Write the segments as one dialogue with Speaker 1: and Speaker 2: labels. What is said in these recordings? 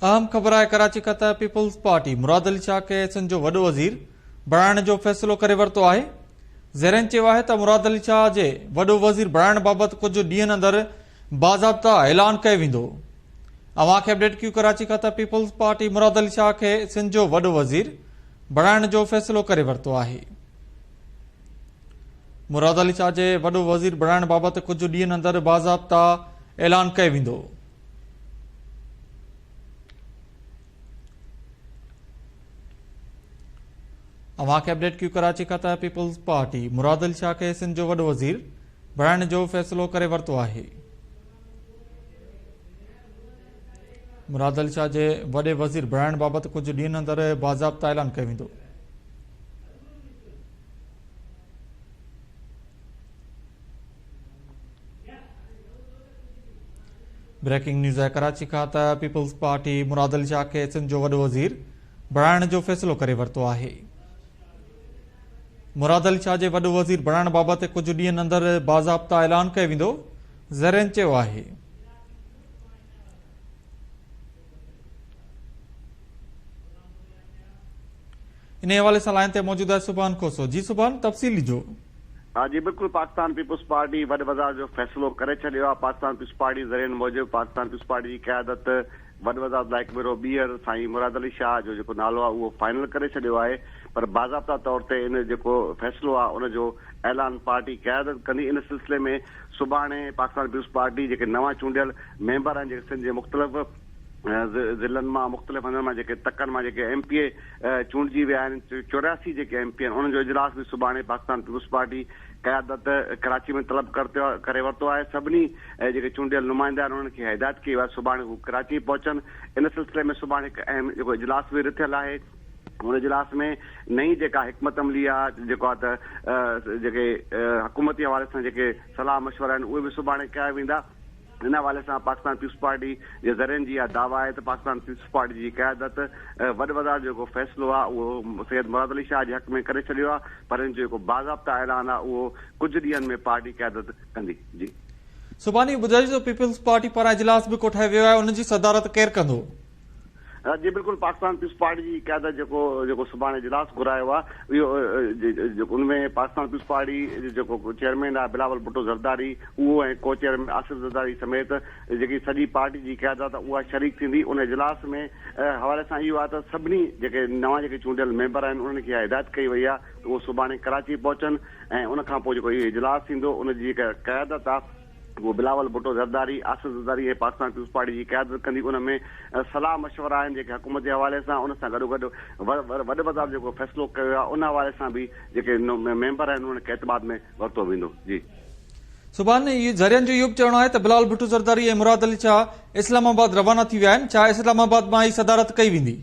Speaker 1: اهم خبر آهي ڪراچي کان ته پيپلز پارٽي مراد علي شاهه کي سنڌ جو وڏو وزير بڻائڻ جو فيصلو ڪري ورتو آهي ذريعن چيو آهي ته مراد علي شاهه جي وڏو وزير بڻائڻ بابت ڪجهه ڏينهن اندر باضابطا اعلان ڪيو ويندو اوهان کي اپڊيٽ ڪيو ڪراچي کان ته پيپلز پارٽي مراد علي شاهه کي سنڌ جو وڏو وزير بڻائڻ جو فيصلو ڪري ورتو آهي مراد علي شاهه جي وڏو وزير بڻائڻ بابت ڪجهه ڏينهن اندر باضابطا اعلان ڪيو ويندو اوهان کي اپڊيٽ ڪيو ڪراچي کان ته پيپلز پارٽي مراد علي شاهه کي سنڌ جو وڏو وزير بڻائڻ جو فيصلو ڪري ورتو آهي مراد علي شاهه جي وڏي وزير بڻائڻ بابت ڪجهه ڏينهن اندر باضابطه اعلان ڪيو ويندو بريڪنگ نيوز آهي ڪراچي کان ته پيپلز پارٽي مراد علي شاهه کي سنڌ جو وڏو وزير بڻائڻ جو فيصلو ڪري ورتو آهي مراد علي شاهه جي وڏو وزير بڻائڻ بابت ڪجهه ڏينهن اندر باضابطه اعلان ڪيو ويندو زرين چيو آهي انهيء حوالي سان لائن تي موجود آهي سبحان کوسو. جي سبحان، تفصيل ڏجو. ها جي بلڪل
Speaker 2: پاڪستان پيپلز پارٽي وڏ وزار جو فيصلو ڪري ڇڏيو آ پاڪستان پيپلز پارٽي ذريعن موجب پاڪستان پيپلز پارٽي جي قيادت وڏ وزارت لاء هڪ ڀيرو ٻيهر سائين مراد علي شاهه جو جيڪو نالو آ اهو فائنل ڪري ڇڏيو آهي پر باضابطا طور تي ان جيڪو فيصلو آ ان جو اعلان پارٽي قيادت ڪندي ان سلسلي ۾ سڀاڻي پاڪستان پيپلز پارٽي جيڪي نوان چونڊيل ميمبر آهن جيڪي سنڌ جي مختلف ضلعن مان مختلف هنڌن مان جيڪي تڪن مان جيڪي ايم پي اي چونڊجي ويا آهن چورياسي جيڪي ايم پي اي آهن انهن جو اجلاس به سڀاڻي پاڪستان پيپلز پارٽي قيادت ڪراچي ۾ طلب ڪري ورتو آهي سڀني جيڪي چونڊيل نمائندا آهن انهن کي هدايت ڪئي وئي آهي سڀاڻي هو ڪراچي پهچن ان سلسلي ۾ سڀاڻي هڪ اهم جيڪو اجلاس به رٿيل آهي هن اجلاس ۾ نئين جيڪا حڪمت عملي آهي جيڪو آهي ته جيڪي حڪومتي حوالي سان جيڪي صلاح مشورا آهن اهي به سڀاڻي ڪيا ويندا ان حوالي سان پاڪستان پيپلز پارٽي جي ذريعن جي اها دعويٰ آهي ته پاڪستان پيپلز پارٽي جي قيادت وڏ وزارت جو جيڪو فيصلو آهي اهو سيد مراد علي شاهه جي حق ۾ ڪري ڇڏيو آهي پر ان جو جيڪو باضابطه اعلان آهي اهو ڪجهه ڏينهن ۾ پارٽي قيادت ڪندي. جي. سڀاني
Speaker 1: ٻڌائي جو پيپلز پارٽي پاران اجلاس به ڪوٺايو ويو آهي ان جي صدارت ڪير ڪندو؟ جي
Speaker 2: بلڪل پاڪستان پيپلز پارٽي جي قيادت جيڪو جيڪو سڀاڻي اجلاس گهرايو آهي اهو جيڪو ان ۾ پاڪستان پيپلز پارٽي جيڪو چيئرمين آهي بلاول ڀٽو زرداري اهو ۽ ڪو چيئرمين آصف زرداري سميت جيڪي سڄي پارٽي جي قيادت آهي اها شريڪ ٿيندي ان اجلاس ۾ حوالي سان اهو آهي ته سڀني جيڪي نوان جيڪي چونڊيل ميمبر آهن انهن کي اها هدايت ڪئي وئي آهي ته اهو سڀاڻي ڪراچي پهچن ۽ ان کان پوء جيڪو اهو اجلاس ٿيندو ان جي جيڪا قيادت آهي هو بلاول ڀٽو زرداري، آصف زرداري ۽ پاڪستان پيپلز پارٽي جي قيادت ڪندي ان ۾ صلاح مشورا آهن جيڪي حڪومت جي حوالي سان ان سان گڏوگڏ وڏ وزارت جيڪو فيصلو ڪيو ويو آهي ان حوالي سان به جيڪي ميمبر آهن انهن کي اعتماد ۾ ورتو ويندو جي. سبحان
Speaker 1: ذريعن جو اهو به چوڻ آهي ته بلاول ڀٽو زرداري ۽ مراد علي شاهه اسلام آباد روانا ٿي ويا آهن، ڇا اسلام آباد مان ئي صدارت ڪئي ويندي؟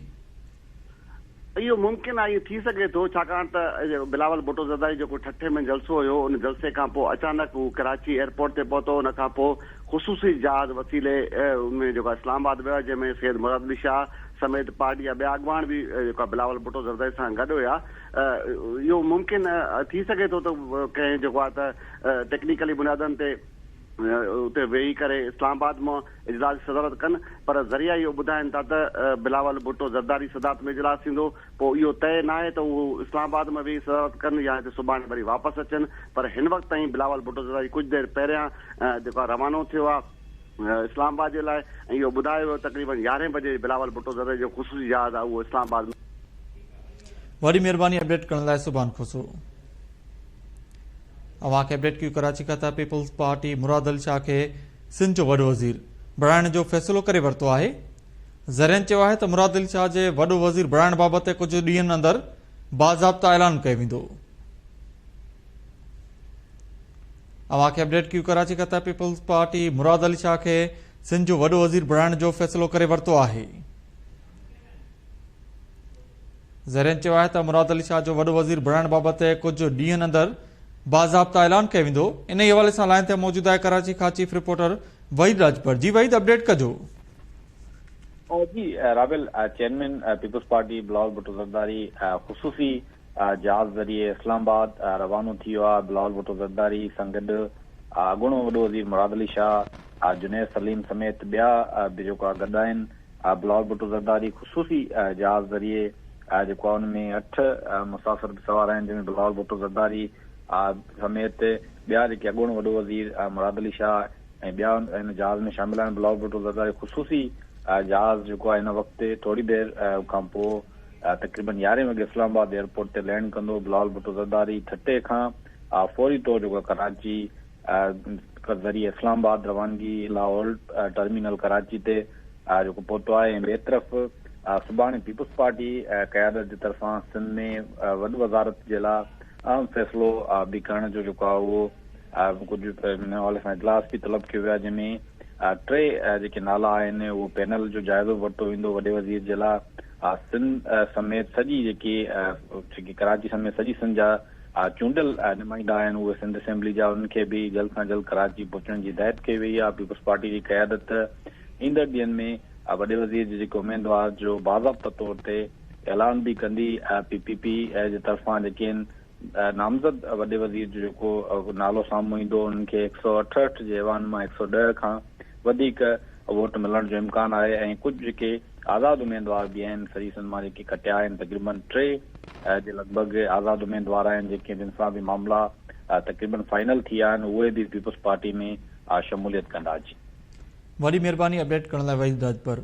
Speaker 2: اهو ممڪن آهي ائين ٿي سگهي ٿو ڇاڪاڻ ته بلاول ڀٽو زرداري جو ڪو ٺٽي ۾ جلسو هيو ان جلسي کان پوء اچانڪ هو ڪراچي ايئرپورٽ تي پهتو ان کان پوء خصوصي جهاز وسيلي ان ۾ جيڪو اسلام آباد ويو جنهن ۾ سيد مراد علي شاهه سميت پارٽي جا ٻيا اڳواڻ به جيڪو بلاول ڀٽو زرداري سان گڏ هيا اهو ممڪن ٿي سگهي ٿو ته ڪنهن جيڪو آهي ته ٽيڪنيڪلي بنيادن تي اتي ويهي ڪري اسلام آباد مان اجلاس جي صدارت ڪن پر ذريعا اهو ٻڌائين ٿا ته بلاول ڀٽو زرداري صدارت ۾ اجلاس ٿيندو پوء اهو طئي ناهي ته اهو اسلام آباد ۾ ويهي صدارت ڪن يا هتي سڀاڻي وري واپس اچن پر هن وقت تائين بلاول ڀٽو زرداري ڪجهه دير پهريان جيڪو آهي روانو ٿيو آهي اسلام آباد جي لاء ۽ اهو ٻڌايو ويو تقريبن يارهين بجي بلاول ڀٽو زرداري جو خصوصي جهاز آهي اهو اسلام آباد ۾
Speaker 1: وڏي مهرباني اپڊيٽ ڪرڻ لاء سبحان خوسرو. اوهان کي اپڊيٽ ڪيو ڪراچي کان ته پيپلز پارٽي مرادعلي شاهه کي سنڌ جو وڏو وزير بڻائڻ جو فيصلو ڪري ورتو آهي زرين چيو آهي ته مرادعلي شاهه جي وڏو وزير بڻائڻ بابت ڪجهه ڏينهن اندر باضابطا اعلان ڪيو ويندو اوهان کي اپڊيٽ ڪيو ڪراچي کان ته پيپلز پارٽي مرادعلي شاهه کي سنڌ جو وڏو وزير بڻائڻ جو فيصلو ڪري ورتو آهي ذريعن چيو آهي ته مراد علي شاهه جو وڏو وزير بڻائڻ بابت ڪجهه ڏينهن اندر باضابطه اعلان ڪيو ويندو انهي حوالي سان لائين تي موجود آهي ڪراچي کان چيف رپورٽر وحيد راڄپر جي وحيد اپڊيٽ ڪجو.
Speaker 3: جي رابيل chairman Peoples Party Bilawal Bhutto Zardari خصوصي جهاز ذريعي اسلام آباد روانو ٿي ويو آهي بلاول ڀٽو زرداري سان گڏ اڳوڻو وڏو وزير مراد علي شاهه جنيد سليم سميت ٻيا به جيڪو آهي گڏ آهن بلال ڀٽو زرداري خصوصي جهاز ذريعي جيڪو آهي ان ۾ اٺ مسافر به سوار آهن جن ۾ بلال ڀٽو زرداري سميت ٻيا جيڪي اڳوڻو وڏو وزير مراد علي شاهه ۽ ٻيا ان جهاز ۾ شامل آهن بلال ڀٽو زرداري خصوصي جهاز جيڪو آهي هن وقت ٿوري دير کان پوء تقريبن يارهين وڳي اسلام آباد ايئرپورٽ تي لينڊ ڪندو بلال ڀٽو زرداري ٺٽي کان فوري طور جيڪو ڪراچي ذريعي اسلام آباد روانگي لاهور ٽرمينل ڪراچي تي جيڪو پهتو آهي ۽ ٻئي طرف سڀاڻي پيپلز پارٽي قيادت جي طرفان سنڌ ۾ وڏ وزارت جي لاء اهم فيصلو به کڻڻ جو جيڪو آهي اهو ڪجهه ان حوالي سان اجلاس به طلب ڪيو ويو آهي جنهن ۾ ٽي جيڪي نالا آهن اهو پينل جو جائزو ورتو ويندو وڏي وزير جي لاء سنڌ سميت سڄي جيڪي جيڪي ڪراچي سميت سڄي سنڌ جا آء چونڊيل نمائندا آهن اهي سنڌ اسيمبلي جا انهن کي به جلد سان جلد ڪراچي پهچڻ جي هدايت ڪئي وئي آهي پيپلز پارٽي جي قيادت ايندڙ ڏينهن ۾ وڏي وزير جي جيڪي اميدوار جو باضابطه طور تي اعلان به ڪندي پي پي پي جي طرفان جيڪي ان نامزد وڏي وزير جو جيڪو نالو سامهون ايندو انهن کي هڪ سؤ اٺهٺ جي ايوان مان هڪ سؤ ڏهه کان وڌيڪ ووٽ ملڻ جو امڪان آهي ۽ ڪجهه جيڪي آزاد اميدوار به آهن، فريسن مان جيڪي کٽيا آهن تقريبا ٽي جي لڳ ڀڳ آزاد اميدوار آهن جن کي جن سان به معاملا تقريبا فائنل ٿي ويا آهن اهي به پيپلز پارٽي ۾
Speaker 1: شموليت
Speaker 3: ڪندا
Speaker 1: جي.
Speaker 3: وڏي
Speaker 1: مھرباني
Speaker 3: اپڊيٽ ڪرڻ
Speaker 1: لاء وحيد
Speaker 3: راڄپر.